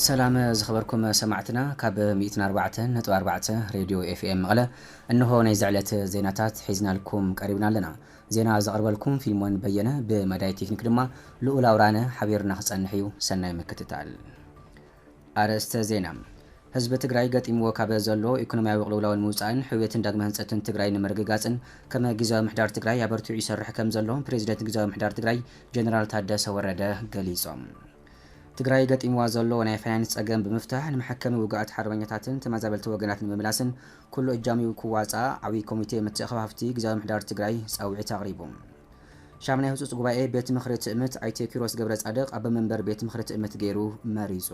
ሰላም ዝኸበርኩም ሰማዕትና ካብ 104.4 ሬድዮ ኤፍኤም መቐለ እንሆ ናይ ዝዕለት ዜናታት ሒዝናልኩም ቀሪብና ኣለና ዜና ዘቕርበልኩም ፊልሞን በየነ ብመዳይ ቴክኒክ ድማ ልኡል ኣውራነ ሓቢሩና ክጸንሕ እዩ ሰናይ ምክትታል። ኣርእስተ ዜና፣ ህዝቢ ትግራይ ገጢምዎ ካበ ዘሎ ኢኮኖሚያዊ ቅልውላው ንምውጻእን ሕውየትን ዳግመ ህንጸትን ትግራይ ንምርግጋጽን ከመ ጊዜያዊ ምሕዳር ትግራይ ኣበርቲዑ ይሰርሕ ከም ዘሎ ፕሬዚደንት ጊዜያዊ ምሕዳር ትግራይ ጀነራል ታደሰ ወረደ ገሊጾም። ትግራይ ገጢምዋ ዘሎ ናይ ፋይናንስ ጸገም ብምፍታሕ ንመሐከሚ ውጉኣት ሓርበኛታትን ተመዛበልቲ ወገናት ንምምላስን ኩሉ እጃሚኡ ክዋፅኣ ዓብዪ ኮሚቴ ምትእኽኻብሃፍቲ ግዝያዊ ምሕዳር ትግራይ ፃውዒት ኣቕሪቡ። ሻምናይ ህፁፅ ጉባኤ ቤት ምኽሪ ትእምት ኣይተ ኪሮስ ገብረፃድቕ ኣቦ መንበር ቤት ምኽሪ ትእምት ገይሩ መሪፁ።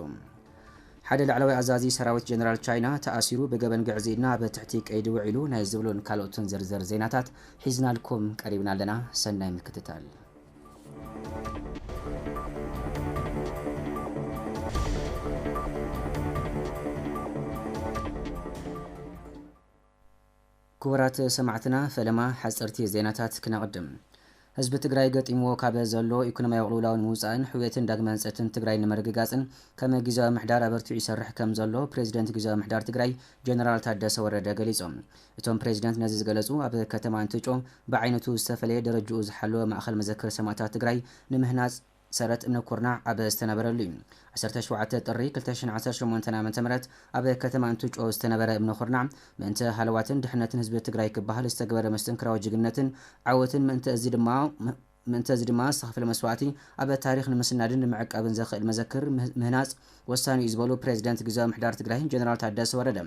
ሓደ ላዕለዋይ ኣዛዚ ሰራዊት ጀነራል ቻይና ተኣሲሩ ብገበን ግዕዝይና ኣብ ትሕቲ ቀይዲ ውዒሉ ናይ ዝብሉን ካልኦትን ዝርዝር ዜናታት ሒዝናልኩም ቀሪብና ኣለና ሰናይ ምክትታል። ክቡራት ሰማዕትና ፈለማ ሓፀርቲ ዜናታት ክነቕድም ህዝቢ ትግራይ ገጢምዎ ካብ ዘሎ ኢኮኖሚያዊ ቅልውላው ንምውፃእን ሕውየትን ዳግመ ህንፀትን ትግራይ ንምርግጋፅን ከም ግዜያዊ ምሕዳር ኣበርቲዑ ይሰርሕ ከም ዘሎ ፕሬዚደንት ግዜያዊ ምሕዳር ትግራይ ጀነራል ታደሰ ወረደ ገሊፆም። እቶም ፕሬዚደንት ነዚ ዝገለፁ ኣብ ከተማ እንትጮ ብዓይነቱ ዝተፈለየ ደረጅኡ ዝሓለወ ማእኸል መዘክር ሰማእታት ትግራይ ንምህናፅ ሰረት እምነ ኩርናዕ ኣብ ዝተነበረሉ ዩ። ዓሰርተ ሸውዓተ ጥሪ ክልተ ሽሕን ዓሰርተ ሸሞንተን ዓ.ም ኣብ ከተማ እንትጮ ዝተነበረ እምነ ኩርናዕ ምእንተ ሃለዋትን ድሕነትን ህዝቢ ትግራይ ክበሃል ዝተገበረ መስተንክራዊ ጅግንነትን ዓወትን ምእንተ እዚ ድማ ምእንቲ እዚ ድማ ዝተኸፍለ መስዋእቲ ኣብ ታሪኽ ንምስናድን ንምዕቃብን ዘኽእል መዘክር ምህናፅ ወሳኒ እዩ ዝበሉ ፕሬዝደንት ግዝያዊ ምሕዳር ትግራይ ጀነራል ታደሰ ወረደ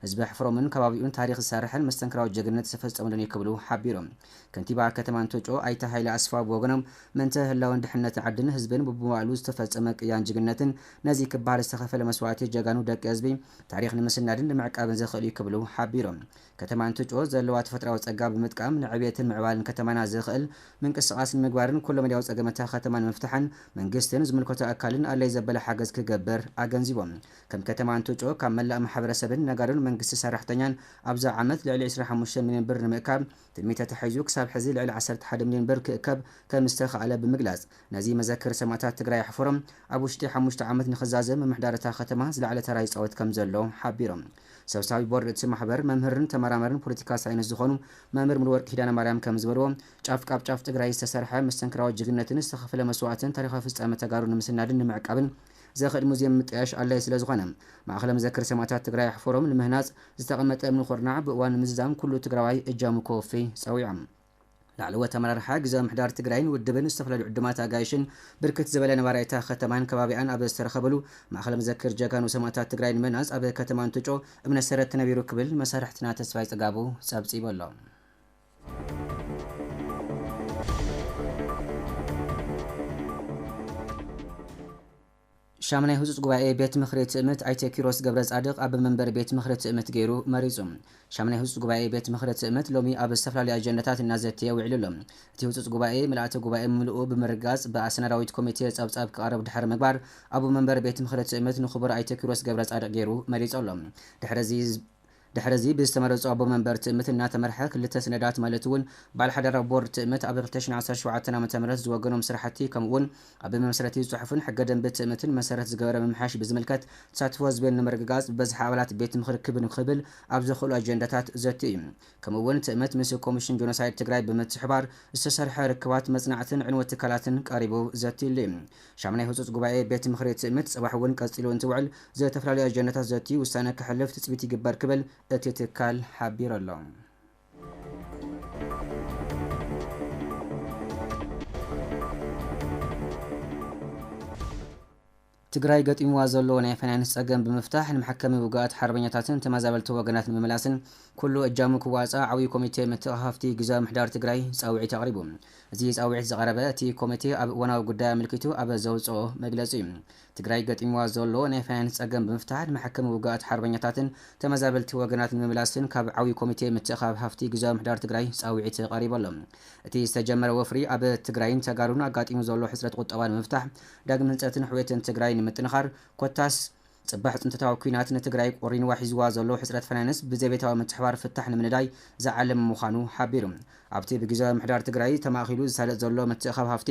ህዝቢ ሕፍሮምን ከባቢኡን ታሪኽ ዝሰርሐን መስተንክራዊ ጀግንነት ዝተፈፀሙሉን እዩ ክብሉ ሓቢሮም። ከንቲባ ከተማ እንቶጮ ኣይተ ሃይለ ኣስፋው ብወገኖም ምእንተ ህላወን ድሕንነት ዓድን ህዝብን ቡብመዋእሉ ዝተፈፀመ ቅያን ጅግንነትን ነዚ ክበሃል ዝተኸፈለ መስዋእቲ ጀጋኑ ደቂ ህዝቢ ታሪኽ ንምስናድን ንምዕቃብን ዘኽእል እዩ ክብሉ ሓቢሮም። ከተማ እንትጮ ዘለዋ ተፈጥራዊ ፀጋ ብምጥቃም ንዕብየትን ምዕባልን ከተማና ዝኽእል ምንቅስቓስ ንምግባርን ኩሎ መዳያዊ ፀገም እታ ከተማ ንምፍታሕን መንግስትን ዝምልከቶ ኣካልን ኣድላይ ዘበለ ሓገዝ ክገብር ኣገንዚቦም። ከም ከተማ እንትጮ ካብ መላእ ማሕበረሰብን ነጋዶን መንግስቲ ሰራሕተኛን ኣብዚ ዓመት ልዕሊ ዕስራን ሓሙሽተን ሚልዮን ብር ንምእካብ ትልሚ ተታሒዙ ክሳብ ሕዚ ልዕሊ ዓሰርተ ሓደ ሚልዮን ብር ክእከብ ከምዝተኽኣለ ብምግላፅ ነዚ መዘክር ሰማእታት ትግራይ ኣሕፎሮም ኣብ ውሽጢ ሓሙሽተ ዓመት ንኽዛዘም ምምሕዳር እታ ከተማ ዝለዓለ ተራ ይፃወት ከምዘሎ ሓቢሮም። ሰብሳቢ ቦርድ እቲ ማሕበር መምህርን ተመራመርን ፖለቲካ ሳይንስ ዝኾኑ መምህር ሙሉወርቅ ኪዳነማርያም ከምዝበልዎ፣ ጫፍ ካብ ጫፍ ትግራይ ዝተሰርሐ መስተንክራዊ ጅግንነትን ዝተኸፈለ መስዋእትን ታሪኻዊ ፍፃመ ተጋሩ ንምስናድን ንምዕቃብን ዘኽእል ሙዝየም ምጥያሽ ኣድላዪ ስለዝኾነ ማእኸለ መዘክር ሰማእታት ትግራይ ኣሕፈሮም ንምህናፅ ዝተቐመጠ እምኒ ኹርናዕ ብእዋን ምዝዛም ኩሉ ትግራዋይ እጃሙ ከወፍይ ፀዊዖም። ላዕለዎት ኣመራርሓ ግዝያዊ ምምሕዳር ትግራይን ውድብን ዝተፈላለዩ ዕዱማት ኣጋይሽን ብርክት ዝበለ ነባራይ እታ ከተማን ከባቢኣን ኣብ ዝተረኸብሉ ማእኸል መዘክር ጀጋኑ ሰማእታት ትግራይ ንምህናፅ ኣብ ከተማ እንትጮ እምነ ሰረት ተነቢሩ ክብል መሳርሕትና ተስፋይ ፅጋቡ ፀብፂቡ ኣሎ። ሻምናይ ህፁፅ ጉባኤ ቤት ምኽሪ ትእምት ኣይተ ኪሮስ ገብረፃድቕ ኣበ መንበሪ ቤት ምኽሪ ትእምት ገይሩ መሪፁ። ሻምናይ ህፁፅ ጉባኤ ቤት ምኽሪ ትእምት ሎሚ ኣብ ዝተፈላለዩ ኣጀንዳታት እናዘተየ ውዒሉ ኣሎ። እቲ ህፁፅ ጉባኤ ምልኣተ ጉባኤ ምልኡ ብምርግጋፅ ብኣሰናዳዊት ኮሚቴ ፀብፃብ ክቐርብ ድሕሪ ምግባር ኣቡ መንበሪ ቤት ምኽሪ ትእምት ንክቡር ኣይተ ኪሮስ ገብረፃድቕ ገይሩ መሪፁ ኣሎ። ድሕሪ እዚ ድሕሪ እዚ ብዝተመረፁ ኣቦ መንበር ትእምት እናተመርሐ ክልተ ስነዳት ማለት እውን በዓል ሓደራ ቦርድ ትእምት ኣብ ክልተ ሽሕን ዓሰርተ ሸውዓተን ዓመተ ምህረት ዝወገኖም ስራሕቲ ከምኡ እውን ኣብ መምስረቲ ፅሑፍን ሕገ ደንቢ ትእምትን መሰረት ዝገበረ ምምሕያሽ ብዝምልከት ተሳትፎ ህዝቢ ንምርግጋፅ ብበዝሒ ኣባላት ቤት ምኽሪ ክብ ንክብል ኣብ ዘኽእሉ ኣጀንዳታት ዘትዩ እዩ። ከምኡ እውን ትእምት ምስ ኮሚሽን ጆኖሳይድ ትግራይ ብምትሕባር ዝተሰርሐ ርክባት መፅናዕትን ዕንወት ትካላትን ቀሪቡ ዘትዩሉ እዩ። ሻምናይ ህጹጽ ጉባኤ ቤት ምኽሪ ትእምት ጽባሕ እውን ቀጺሉ እንትውዕል ዝተፈላለዩ ኣጀንዳታት ዘትዩ ውሳነ ከሕልፍ ትጽቢት ይግበር ክብል እቲ ትካል ሓቢሩ ኣሎ። ትግራይ ገጢምዋ ዘሎ ናይ ፋይናንስ ጸገም ብምፍታሕ ንመሐከሚ ውግኣት ሓርበኛታትን ተመዛበልቲ ወገናት ንምምላስን ኩሉ እጃሙ ክዋጻእ ዓብዪ ኮሚቴ መተኣኻኸፍቲ ግዝያዊ ምሕዳር ትግራይ ጻውዒት ኣቕሪቡ። እዚ ፃውዒት ዝቐረበ እቲ ኮሚቴ ኣብ እዋናዊ ጉዳይ ኣመልኪቱ ኣብ ዘውፀኦ መግለፂ እዩ። ትግራይ ገጢምዋ ዘሎ ናይ ፋይናንስ ፀገም ብምፍታሕ ንመሐከሚ ውጉኣት ሓርበኛታትን ተመዛበልቲ ወገናት ንምምላስን ካብ ዓብዪ ኮሚቴ ምትእኻብ ሃፍቲ ግዝያዊ ምሕዳር ትግራይ ፃውዒት ቐሪቡ ኣሎ። እቲ ዝተጀመረ ወፍሪ ኣብ ትግራይን ተጋሩን ኣጋጢሙ ዘሎ ሕፅረት ቑጠባ ንምፍታሕ፣ ዳግም ህንፀትን ሕውየትን ትግራይ ንምጥንኻር ኮታስ ፅባሕ ፅንተታዊ ኲናት ንትግራይ ቆሪንዋ ሒዝዋ ዘሎ ሕፅረት ፋይናንስ ብዘቤታዊ ምትሕባር ፍታሕ ንምንዳይ ዝዓለመ ምዃኑ ሓቢሩ። ኣብቲ ብጊዚያዊ ምምሕዳር ትግራይ ተማእኺሉ ዝሳለጥ ዘሎ ምትእኻብ ሃፍቲ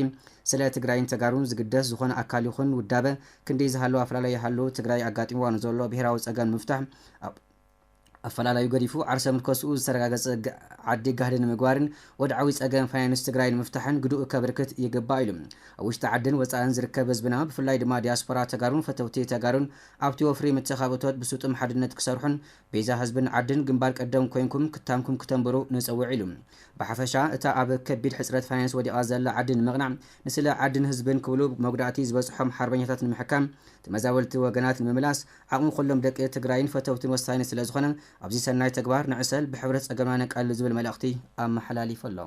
ስለ ትግራይን ተጋሩን ዝግደስ ዝኾነ ኣካል ይኹን ውዳበ ክንድይ ዝሃለወ ኣፈላላይ ይሃሉ ትግራይ ኣጋጢምዋ ንዘሎ ብሄራዊ ፀገም ንምፍታሕ ኣብ ኣፈላላዩ ገዲፉ ዓርሰ ምርከስኡ ዝተረጋገፀ ዓዲ ጋህዲ ንምግባርን ወድዓዊ ፀገም ፋይናንስ ትግራይ ንምፍታሕን ግድኡ ከብርክት ይግባእ ኢሉ። ኣብ ውሽጢ ዓድን ወፃእን ዝርከብ ህዝብና ብፍላይ ድማ ዲያስፖራ ተጋሩን ፈተውቲ ተጋሩን ኣብቲ ወፍሪ ምትእኻብ እቶት ብስጡም ሓድነት ክሰርሑን ቤዛ ህዝብን ዓድን ግንባር ቀደም ኮይንኩም ክታምኩም ክተንብሩ ንፅውዕ ኢሉ። ብሓፈሻ እታ ኣብ ከቢድ ሕፅረት ፋይናንስ ወዲቓ ዘላ ዓዲ ንምቕናዕ ንስለ ዓድን ህዝብን ክብሉ መጉዳእቲ ዝበፅሖም ሓርበኛታት ንምሕካም ተመዛበልቲ ወገናት ንምምላስ ዓቕሚ ኩሎም ደቂ ትግራይን ፈተውትን ወሳኒ ስለዝኾነ ኣብዚ ሰናይ ተግባር ንዕሰል፣ ብሕብረት ፀገምና ነቃልል ዝብል መልእኽቲ ኣመሓላሊፉ ኣሎ።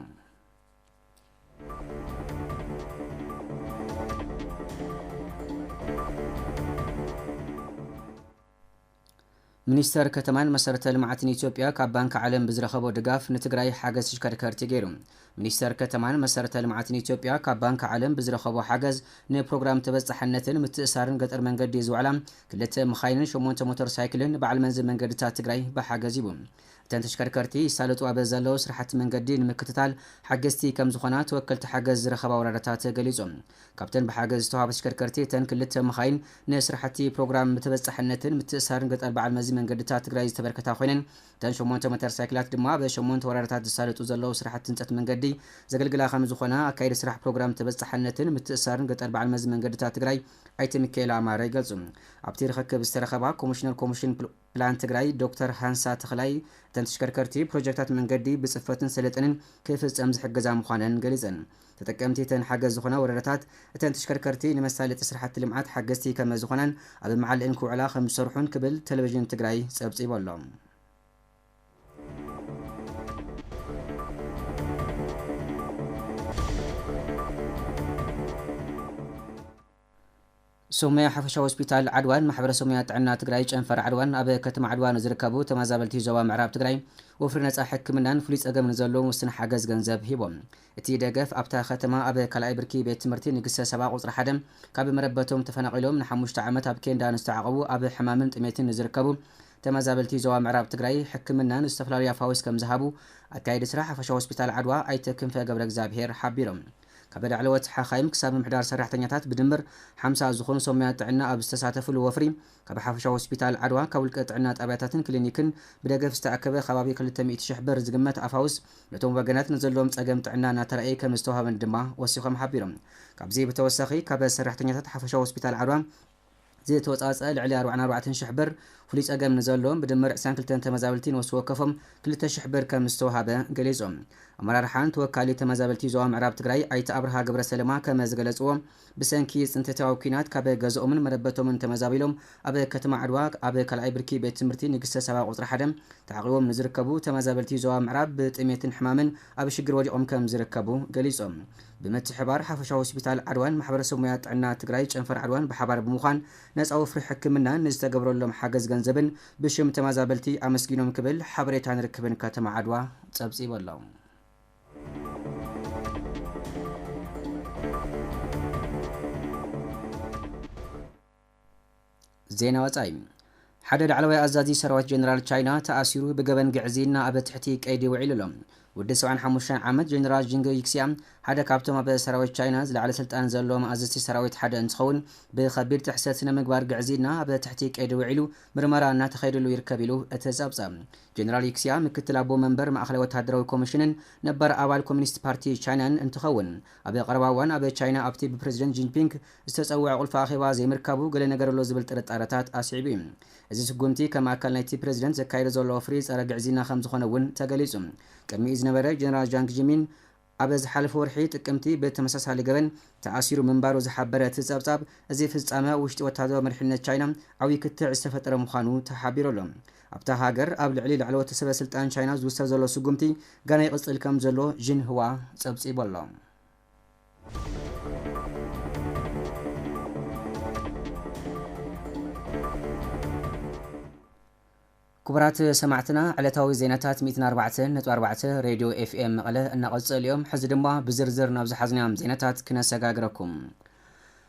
ሚኒስተር ከተማን መሰረተ ልምዓትን ኢትዮጵያ ካብ ባንኪ ዓለም ብዝረኸቦ ድጋፍ ንትግራይ ሓገዝ ተሽከርከርቲ ገይሩ። ሚኒስተር ከተማን መሰረተ ልምዓትን ኢትዮጵያ ካብ ባንኪ ዓለም ብዝረኸቦ ሓገዝ ንፕሮግራም ተበፃሕነትን ምትእስሳርን ገጠር መንገዲ ዝውዕላ ክልተ መኻይንን ሸሞንተ ሞተር ሳይክልን ንበዓል መንዚ መንገድታት ትግራይ ብሓገዝ ሂቡ። እተን ተሽከርከርቲ ይሳለጡ ኣብ ዘለዉ ስራሕቲ መንገዲ ንምክትታል ሓገዝቲ ከምዝኾና ተወከልቲ ሓገዝ ዝረኸባ ወረዳታት ገሊፆም። ካብተን ብሓገዝ ዝተውሃባ ተሽከርከርቲ እተን ክልተ መኻይን ንስራሕቲ ፕሮግራም ተበፃሕነትን ምትእስሳርን ገጠር በዓል መዚ መንገድታት ትግራይ ዝተበርከታ ኮይነን እተን ሸሞንተ ሞተር ሳይክላት ድማ ኣብ ሸሞንተ ወረዳታት ዝሳለጡ ዘለዉ ስራሕቲ ህንፀት መንገዲ ዘገልግላ ከምዝኾና ኣካየዲ ስራሕ ፕሮግራም ተበፃሓነትን ምትእስሳርን ገጠር በዓል መዚ መንገድታት ትግራይ ኣይተ ሚካኤል ኣማረ ይገልፁ። ኣብቲ ርኽክብ ዝተረኸባ ኮሚሽነር ኮሚሽን ፕላን ትግራይ ዶክተር ሃንሳ ተኽላይ እተን ተሽከርከርቲ ፕሮጀክታት መንገዲ ብፅፈትን ሰለጥንን ክፍፀም ዝሕግዛ ምዃነን ገሊፀን። ተጠቀምቲ እተን ሓገዝ ዝኾና ወረዳታት፣ እተን ተሽከርከርቲ ንመሳለጢ ስራሕቲ ልምዓት ሓገዝቲ ከመዝኾናን ኣብ መዓልእን ክውዕላ ከምዝሰርሑን ክብል ቴሌቪዥን ትግራይ ፀብፂቡ ኣሎ። ሶማያ ሓፈሻዊ ሆስፒታል ዓድዋን ማሕበረሰብ ሙያ ጥዕና ትግራይ ጨንፈር ዓድዋን ኣብ ከተማ ዓድዋ ንዝርከቡ ተመዛበልቲ ዞባ ምዕራብ ትግራይ ወፍሪ ነፃ ሕክምናን ፍሉይ ፀገም ንዘለዎም ውስን ሓገዝ ገንዘብ ሂቦም። እቲ ደገፍ ኣብታ ከተማ ኣብ ካልኣይ ብርኪ ቤት ትምህርቲ ንግስተ ሳባ ቁፅሪ ሓደ ካብ መረበቶም ተፈናቒሎም ንሓሙሽተ ዓመት ኣብ ኬንዳ ንዝተዓቖቡ ኣብ ሕማምን ጥሜትን ንዝርከቡ ተመዛበልቲ ዞባ ምዕራብ ትግራይ ሕክምናን ዝተፈላለዩ ኣፋውስ ከምዝሃቡ ኣካየዲ ስራሕ ሓፈሻዊ ሆስፒታል ዓድዋ ኣይተ ክንፈ ገብረእግዚኣብሄር ሓቢሮም። ካብ ላዕለዎት ሓኻይም ክሳብ ምምሕዳር ሰራሕተኛታት ብድምር ሓምሳ ዝኾኑ ሰብ ሞያ ጥዕና ኣብ ዝተሳተፍሉ ወፍሪ ካብ ሓፈሻዊ ሆስፒታል ዓድዋ ካብ ውልቀ ጥዕና ጣብያታትን ክሊኒክን ብደገፍ ዝተኣከበ ከባቢ ክልተ ሚእቲ ሽሕ ብር ዝግመት ኣፋውስ ነቶም ወገናት ንዘለዎም ፀገም ጥዕና እናተረኣየ ከምዝተውሃበን ድማ ወሲኾም ሓቢሮም። ካብዚ ብተወሳኺ ካብ ሰራሕተኛታት ሓፈሻዊ ሆስፒታል ዓድዋ ዝተወጻጸኣ ልዕሊ ኣርባዕን ኣርባዕተን ሽሕ ብር፣ ፍሉይ ጸገም ንዘለዎም ብድምር ዕስራን ክልተን ተመዛበልቲ ነፍሲ ወከፎም ክልተ ሽሕ ብር ከም ዝተወሃበ ገሊጹ። ኣመራርሓን ተወካሊ ተመዛበልቲ ዞባ ምዕራብ ትግራይ ኣይተ ኣብርሃ ገብረሰለማ ከም ዝገለጽዎ፣ ብሰንኪ ጽንተታዊ ኲናት ካብ ገዝኦምን መረበቶምን ተመዛቢሎም ኣብ ከተማ ዓድዋ ኣብ ካልኣይ ብርኪ ቤት ትምህርቲ ንግስተ ሳባ ቁጽሪ ሓደ ተዓቚቦም ንዝርከቡ ተመዛበልቲ ዞባ ምዕራብ ብጥሜትን ሕማምን ኣብ ሽግር ወዲቖም ከም ዝርከቡ ገሊፆም። ብምትሕብባር ሓፈሻዊ ሆስፒታል ዓድዋን ማሕበረሰብ ሙያ ጥዕና ትግራይ ጨንፈር ዓድዋን ብሓባር ብምዃን ነፃ ወፍሪ ሕክምናን ንዝተገብረሎም ሓገዝ ገንዘብን ብሽም ተመዛበልቲ ኣመስጊኖም ክብል ሓበሬታን ርክብን ከተማ ዓድዋ ፀብፂቡ ኣሎ። ዜና ወፃኢ ሓደ ላዕለዋይ ኣዛዚ ሰራዊት ጀነራል ቻይና ተኣሲሩ ብገበን ግዕዝይና ኣብ ትሕቲ ቀይዲ ውዒሉ ኣሎ። ውዲ ሰብዓን ሓሙሽተን ዓመት ጀነራል ዥንግ ይክሲያ ሓደ ካብቶም ኣብ ሰራዊት ቻይና ዝለዓለ ስልጣን ዘለዎም ኣዘዝቲ ሰራዊት ሓደ እንትኸውን ብኸቢድ ጥሕሰት ስነ ምግባር ግዕዝይና ኣብ ትሕቲ ቀይዲ ውዒሉ ምርመራ እናተኸየደሉ ይርከብ ኢሉ እቲ ጸብጻብ። ጀነራል ይክሲያ ምክትል ኣቦ መንበር ማእኸላይ ወታደራዊ ኮሚሽንን ነባር ኣባል ኮሚኒስት ፓርቲ ቻይናን እንትኸውን ኣብ ቀረባ እዋን ኣብ ቻይና ኣብቲ ብፕረዚደንት ጂንፒንግ ዝተጸውዐ ቁልፊ ኣኼባ ዘይምርካቡ ገለ ነገር ኣሎ ዝብል ጥርጣረታት ኣስዒቡ እዩ። እዚ ስጉምቲ ከም ኣካል ናይቲ ፕረዚደንት ዘካይዶ ዘሎ ወፍሪ ጸረ ግዕዝይና ከም ዝኾነ እውን ተገሊጹ። ቅድሚኡ ዝነበረ ጀነራል ዣንግ ጂሚን ኣብ ዝሓለፈ ወርሒ ጥቅምቲ ብተመሳሳሊ ገበን ተኣሲሩ ምንባሩ ዝሓበረ እቲ ጸብጻብ፣ እዚ ፍጻመ ኣብ ውሽጢ ወታደራዊ መሪሕነት ቻይና ዓብይ ክትዕ ዝተፈጠረ ምዃኑ ተሓቢሩ ኣሎ። ኣብታ ሃገር ኣብ ልዕሊ ላዕለዎት ሰበ ስልጣን ቻይና ዝውሰድ ዘሎ ስጉምቲ ገና ይቕጽል ከም ዘሎ ዢንህዋ ጸብጺቡ ኣሎ። ክቡራት ሰማዕትና ዕለታዊ ዜናታት ሚእትን ኣርባዕተን ነጥቢ ኣርባዕተ ሬድዮ ኤፍኤም መቐለ እናቐጸሉ እዮም። ሕዚ ድማ ብዝርዝር ናብ ዝሓዝናዮም ዜናታት ክነሰጋግረኩም።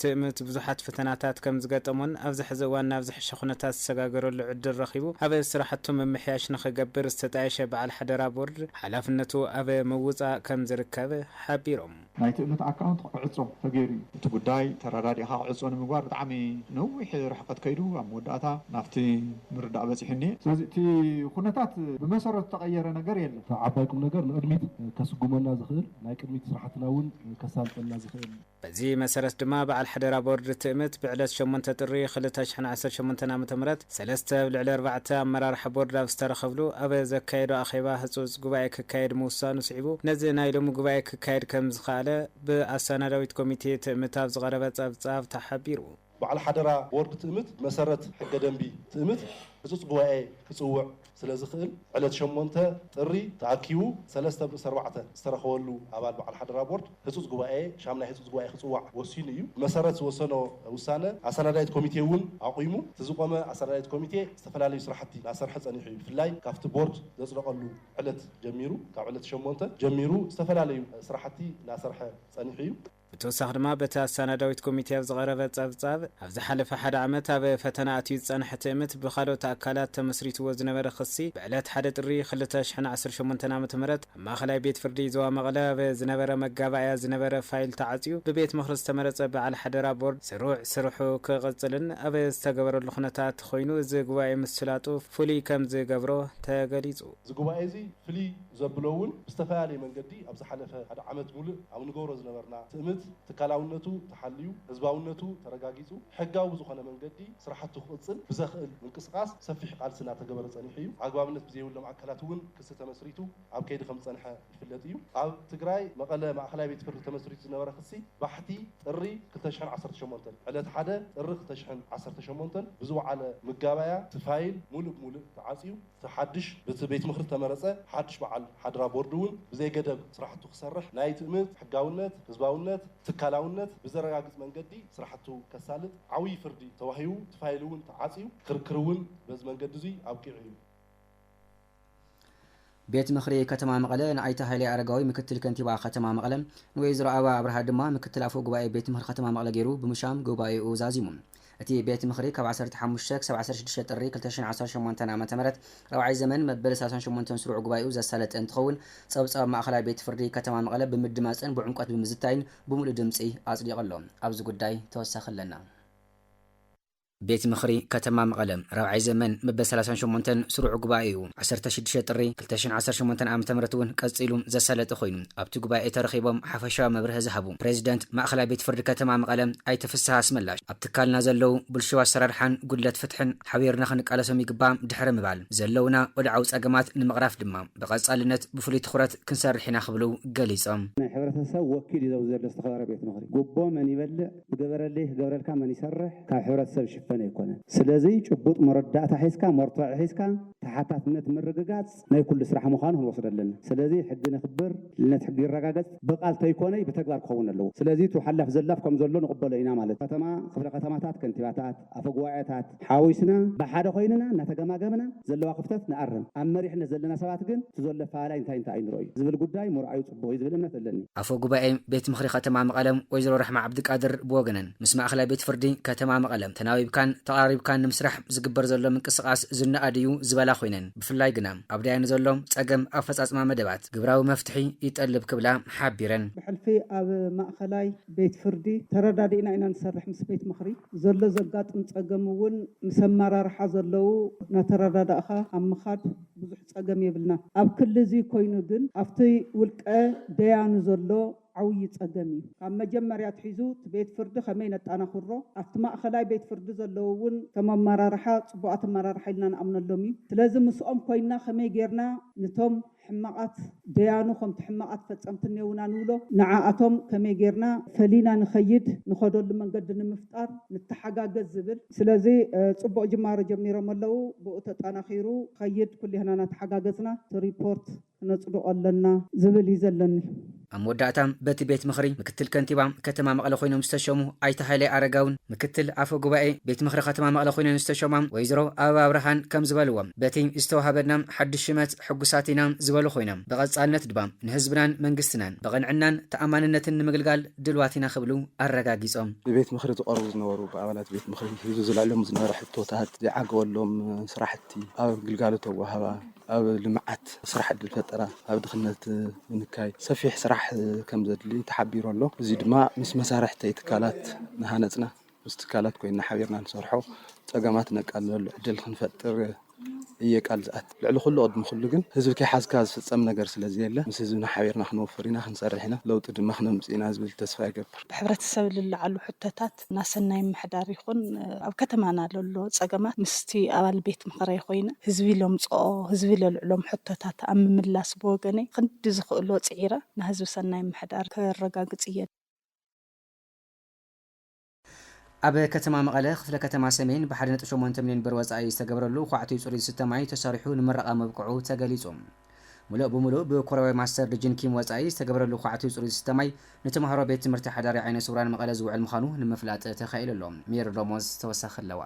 ትእምት ብዙሓት ፈተናታት ከም ዝገጠሞን ኣብዚ ሕዚ እዋን ናብ ዝሐሸ ኩነታት ዝሰጋገረሉ ዕድል ረኺቡ ኣብ ስራሕቱ ምምሕያሽ ንኽገብር ዝተጣየሸ በዓል ሓደራ ቦርድ ሓላፍነቱ ኣብ ምውፃእ ከም ዝርከብ ሓቢሮም። ናይ ትእምት ኣካውንት ክዕፆ ተገይሩ እዩ። እቲ ጉዳይ ተረዳዲእኻ ክዕፆ ንምግባር ብጣዕሚ ነዊሕ ርሕቐት ከይዱ ኣብ መወዳእታ ናብቲ ምርዳእ በፂሑ እኒኤ። ስለዚ እቲ ኩነታት ብመሰረቱ ዝተቐየረ ነገር የለን። እቲ ዓባይ ቁምነገር ንቕድሚት ከስጉመና ዝኽእል ናይ ቅድሚት ስራሕትና እውን ከሳልጠልና ዝኽእል፣ በዚ መሰረት ድማ በዓል ሓደራ ቦርድ ትእምት ብዕለት ሸሞንተ ጥሪ ክልተ ሽሕን ዓሰርተ ሸሞንተን ዓመተ ምህረት ሰለስተ ኣብ ልዕሊ ኣርባዕተ ኣመራርሓ ቦርድ ኣብ ዝተረኸብሉ ኣብ ዘካየዶ ኣኼባ ህፁፅ ጉባኤ ክካየድ ምውሳኑ ስዒቡ ነዚ ናይ ሎሚ ጉባኤ ክካየድ ከምዝኸኣለ ብኣሳናዳዊት ኮሚቴ ትእምት ኣብ ዝቐረበ ፀብፃብ ተሓቢሩ። በዓል ሓደራ ቦርድ ትእምት ብመሰረት ሕገ ደንቢ ትእምት ህፁፅ ጉባኤ ክፅውዕ ስለ ዝኽእል ዕለት ሸሞንተ ጥሪ ተኣኪቡ ሰለስተ ብ ኣርባዕተ ዝተረኸበሉ ኣባል በዓል ሓደራ ቦርድ ህፁፅ ጉባኤ ሻምናይ ህፁፅ ጉባኤ ክፅዋዕ ወሲኑ እዩ። ብመሰረት ዝወሰኖ ውሳነ ኣሰናዳኢት ኮሚቴ እውን ኣቑሙ። እቲ ዝቖመ ኣሰናዳኢት ኮሚቴ ዝተፈላለዩ ስራሕቲ እናሰርሐ ፀኒሑ እዩ። ብፍላይ ካፍቲ ቦርድ ዘፅደቐሉ ዕለት ጀሚሩ ካብ ዕለት ሸሞንተ ጀሚሩ ዝተፈላለዩ ስራሕቲ እናሰርሐ ፀኒሑ እዩ። ብተወሳኺ ድማ በቲ ኣሳናዳዊት ኮሚቴ ኣብ ዝቐረበ ጸብጻብ፣ ኣብ ዝሓለፈ ሓደ ዓመት ኣብ ፈተና ኣትዩ ዝጸንሐ ትእምት ብኻልኦት ኣካላት ተመስሪትዎ ዝነበረ ክሲ ብዕለት ሓደ ጥሪ ክልተ ሽሕን ዓሰርተ ሸሞንተን ዓመተ ምህረት ኣብ ማእኸላይ ቤት ፍርዲ ዞባ መቐለ ኣብ ዝነበረ መጋባእያ ዝነበረ ፋይል ተዓጽዩ ብቤት ምኽሪ ዝተመረጸ በዓል ሓደራ ቦርድ ስሩዕ ስርሑ ክቕጽልን ኣብ ዝተገበረሉ ኩነታት ኾይኑ እዚ ጉባኤ ምስላጡ ፍሉይ ከምዝገብሮ ተገሊጹ። እዚ ጉባኤ እዚ ፍልይ ዘብሎ እውን ብዝተፈላለየ መንገዲ ኣብ ዝሓለፈ ሓደ ዓመት ሙሉእ ኣብ ንገብሮ ዝነበርና ትእምት ትካላውነቱ ተሓልዩ ህዝባውነቱ ተረጋጊፁ ሕጋዊ ብዝኾነ መንገዲ ስራሕቱ ክቕፅል ብዘኽእል ምንቅስቓስ ሰፊሕ ቓልሲ እናተገበረ ፀኒሑ እዩ። ኣግባብነት ብዘይብሎም ኣካላት እውን ክሲ ተመስሪቱ ኣብ ከይዲ ከምዝፀንሐ ይፍለጥ እዩ። ኣብ ትግራይ መቐለ ማእኸላይ ቤት ፍርዲ ተመስሪቱ ዝነበረ ክሲ ባሕቲ ጥሪ ክልተ ሽሕን ዓሰርተ ሸሞንተን ዕለት ሓደ ጥሪ ክልተ ሽሕን ዓሰርተ ሸሞንተን ብዝወዓለ ምጋባያ እቲ ፋይል ሙሉእ ብሙሉእ ተዓፅዩ እቲ ሓድሽ ብቲ ቤት ምኽሪ እተመረጸ ሓድሽ በዓል ሓደራ ቦርድ እውን ብዘይገደብ ስራሕቱ ክሰርሕ ናይ ትእምት፣ ሕጋውነት፣ ህዝባውነት፣ ትካላውነት ብዘረጋግጽ መንገዲ ስራሕቱ ከሳልጥ ዓውዪ ፍርዲ ተዋሂቡ እቲ ፋይል እውን ተዓጽዩ ክርክር እውን በዚ መንገዲ እዙይ ኣብቂዑ እዩ። ቤት ምኽሪ ከተማ መቐለ ንኣይተ ሃይሌ ኣረጋዊ ምክትል ከንቲባ ከተማ መቐለ ንወይዘሮ ኣበባ ኣብርሃ ድማ ምክትል ኣፈ ጉባኤ ቤት ምኽሪ ከተማ መቐለ ገይሩ ብምሻም ጉባኤኡ ዛዚሙ። እቲ ቤት ምኽሪ ካብ ዓሰርተ ሓሙሽተ ክሳብ ዓሰርተ ሽዱሽተ ጥሪ ክልተ ሽሕን ዓሰርተ ሸሞንተን ዓመተ ምህረት ራብዓይ ዘመን መበል ሰላሳን ሸሞንተን ስሩዕ ጉባኤኡ ዘሳለጠ እንትኸውን ፀብፃብ ማእኸላይ ቤት ፍርዲ ከተማ መቐለ ብምድማፅን ብዕምቆት ብምዝታይን ብሙሉእ ድምፂ ኣፅዲቑ ኣሎ። ኣብዚ ጉዳይ ተወሳኺ ኣለና። ቤት ምኽሪ ከተማ መቐለ ራብዓይ ዘመን መበል ሰላሳን ሸሞንተን ስሩዕ ጉባኤኡ ዓሰርተ ሽዱሽተ ጥሪ ክልተ ሽሕን ዓሰርተ ሸሞንተን ዓመተ ምህረት እውን ቀጺሉ ዘሳለጠ ኮይኑ፣ ኣብቲ ጉባኤ ተረኺቦም ሓፈሻዊ መብርሀ ዝሃቡ ፕረዚደንት ማእኸላይ ቤት ፍርዲ ከተማ መቐለ ኣይተ ፍስሃ ኣስመላሽ ኣብ ትካልና ዘለዉ ብልሹው ኣሰራርሓን ጉድለት ፍትሕን ሓቢርና ክንቃለሶም ይግባእ ድሕሪ ምባል ዘለዉና ወድዓዊ ፀገማት ንምቕራፍ ድማ ብቐፃልነት ብፍሉይ ትኹረት ክንሰርሕ ኢና ክብሉ ገሊፆም። ናይ ሕብረተሰብ ወኪል እዩ ኣብዚ ዘሎ ዝተኸበረ ቤት ምኽሪ። ጉቦ መን ይበልዕ? ዝገበረልይ ክገብረልካ መን ይሰርሕ ካብ ሕብረተሰብ ዝሽፈን ኣይኮነን ስለዝይ ጭቡጥ መረዳእታ ሒዝካ መርትዖ ሒዝካ ተሓታትነት ምርግጋፅ ናይ ኩሉ ስራሕ ምዃኑ ክንወስዶ ኣለና ስለዝይ ሕጊ ነኽብር ልዕልነት ሕጊ ይረጋገፅ ብቃል ተይኮነይ ብተግባር ክኸውን ኣለዎ ስለዝይ እቲ ሓላፍ ዘላፍ ከምዘሎ ንቕበሎ ኢና ማለት ከተማ ክፍለ ከተማታት ከንቲባታት ኣፈጉባኤታት ሓዊስና ብሓደ ኮይንና እናተገማገምና ዘለዋ ክፍተት ንኣርም፣ ኣብ መሪሕነት ዘለና ሰባት ግን እቲ ዘሎ ኣፈላላይ እንታይ እንታይ እዩ ንርኦይ ዝብል ጉዳይ ምርኣዩ ፅቡቕ እዩ ዝብል እምነት ኣለኒ። ኣፈ ጉባኤ ቤት ምኽሪ ከተማ መቐለ ወይዘሮ ራሕማ ዓብዲቃድር ብወገነን ምስ ማእኸላይ ቤት ፍርዲ ከተማ መቐለ ተናቢብካን ተቐራሪብካን ንምስራሕ ዝግበር ዘሎ ምንቅስቓስ ዝነኣድ እዩ ዝበላ ኮይነን ብፍላይ ግና ኣብ ዳያኑ ዘሎ ፀገም ኣፈፃፅማ መደባት ግብራዊ መፍትሒ ይጠልብ ክብላ ሓቢረን። ብሕልፊ ኣብ ማእኸላይ ቤት ፍርዲ ተረዳዲእና ኢና ንሰርሕ ምስ ቤት ምኽሪ ዘሎ ዘጋጥም ፀገም እውን ምስ ኣመራርሓ ዘለዉ ናተረዳዳእኻ ኣብ ምኻድ ብዙሕ ፀገም የብልናን ኣብ ክሊ እዙይ ኮይኑ ግን ኣብቲ ውልቀ ደያኑ ዘሎ ዓውዪ ፀገም እዩ ካብ መጀመርያ ኣትሒዙ እቲ ቤት ፍርዲ ከመይ ነጣናኽሮ ኣብቲ ማእኸላይ ቤት ፍርዲ ዘለዉ እውን እቶም ኣመራርሓ ፅቡቓት ኣመራርሓ ኢልና ንኣምነሎም እዩ ስለዚ ምስኦም ኮይንና ከመይ ገይርና ንቶም ሕማቓት ደያኑ ከምቲ ሕማቓት ፈጸምቲ እኔዉና ንብሎ ንዓኣቶም ከመይ ጌርና ፈሊና ንኸይድ ንኸደሉ መንገዲ ንምፍጣር ንተሓጋገዝ ዝብል ስለዚ ጽቡቕ ጅማሮ ጀሚሮሞ ኣለዉ ብኡ ተጣናኺሩ ክኸይድ ኩሌህና ናተሓጋገዝና እቲ ሪፖርት ክነጽድቖ ኣለና ዝብል እዩ ዘለኒ። ኣብ መወዳእታ በቲ ቤት ምኽሪ ምክትል ከንቲባ ከተማ መቐለ ኮይኖም ዝተሸሙ ኣይተ ሃይለ ኣረጋውን ምክትል ኣፈ ጉባኤ ቤት ምኽሪ ከተማ መቐለ ኮይነን ዝተሸማ ወይዘሮ ኣበባ ብርሃን ከምዝበልዎ በቲ ዝተዋሃበና ሓዱሽ ሽመት ሕጉሳት ኢና ዝበሉ ኮይኖም ብቐፃልነት ድማ ንህዝብናን መንግስትናን ብቕንዕናን ተኣማንነትን ንምግልጋል ድልዋት ኢና ክብሉ ኣረጋጊፆም። ንቤት ምኽሪ ዝቐርቡ ዝነበሩ ብኣባላት ቤት ምኽሪ ህዝቢ ዝልዕሎም ዝነበረ ሕቶታት ዘይዓገበሎም ስራሕቲ ኣብ ግልጋሎት ኣወሃህባ፣ ኣብ ልምዓት፣ ስራሕ ዕድል ፈጠራ፣ ኣብ ድኽነት ምንካይ ሰፊሕ ስራሕ ከምዘድሊ ተሓቢሩ ኣሎ። እዙይ ድማ ምስ መሳርሕተይ ትካላት እናሃነፅና ምስ ትካላት ኮይንና ሓቢርና ንሰርሖ ፀገማት ነቃልለሉ ዕድል ክንፈጥር እየ ቃል ዝኣቲ። ልዕሊ ኹሉ ቅድሚ ኹሉ ግን ህዝቢ ከይሓዝካ ዝፍፀም ነገር ስለዘየለ ምስ ህዝብና ሓቢርና ክንወፍር ኢና፣ ክንሰርሕ ኢና፣ ለውጢ ድማ ክነምፅእ ኢና ዝብል ተስፋ ይገብር። ብሕብረተሰብ ልለዓሉ ሕቶታት ኣባላት ናይ ሰናይ ምምሕዳር ይኹን ኣብ ከተማና ለሎ ፀገማት ምስቲ ኣባል ቤት ምኽረይ ኾይነ ህዝቢ ለምፅኦ ህዝቢ ለልዕሎም ሕቶታት ኣብ ምምላስ ብወገነይ ኽንዲ ዝኽእሎ ፅዒረ ናህዝቢ ሰናይ ምምሕዳር ከረጋግፅ እየ። ኣብ ከተማ መቐለ ክፍለ ከተማ ሰሜን ብ ሓደ ነጥቢ ሸሞንተ ሚልዮን ብር ወፃኢ ዝተገብረሉ ዃዕቲኡ ፅሩይ ዝስተ ማይ ተሰሪሑ ንመረቓ ምብቅዑ ተገሊፁ። ምሉእ ብምሉእ ብኮርያዊ ማስተር ድጅን ኪም ወጻኢ ዝተገብረሉ ኳዕቲ ጽሩይ ዝስተ ማይ ንተማሃሮ ቤት ትምህርቲ ሓዳሪ ዓይነ ስውራን መቐለ ዝውዕል ምዃኑ ንምፍላጥ ተኻኢሉ ኣሎ። ሜሪ ሮሞዝ ተወሳኺ ኣለዋ።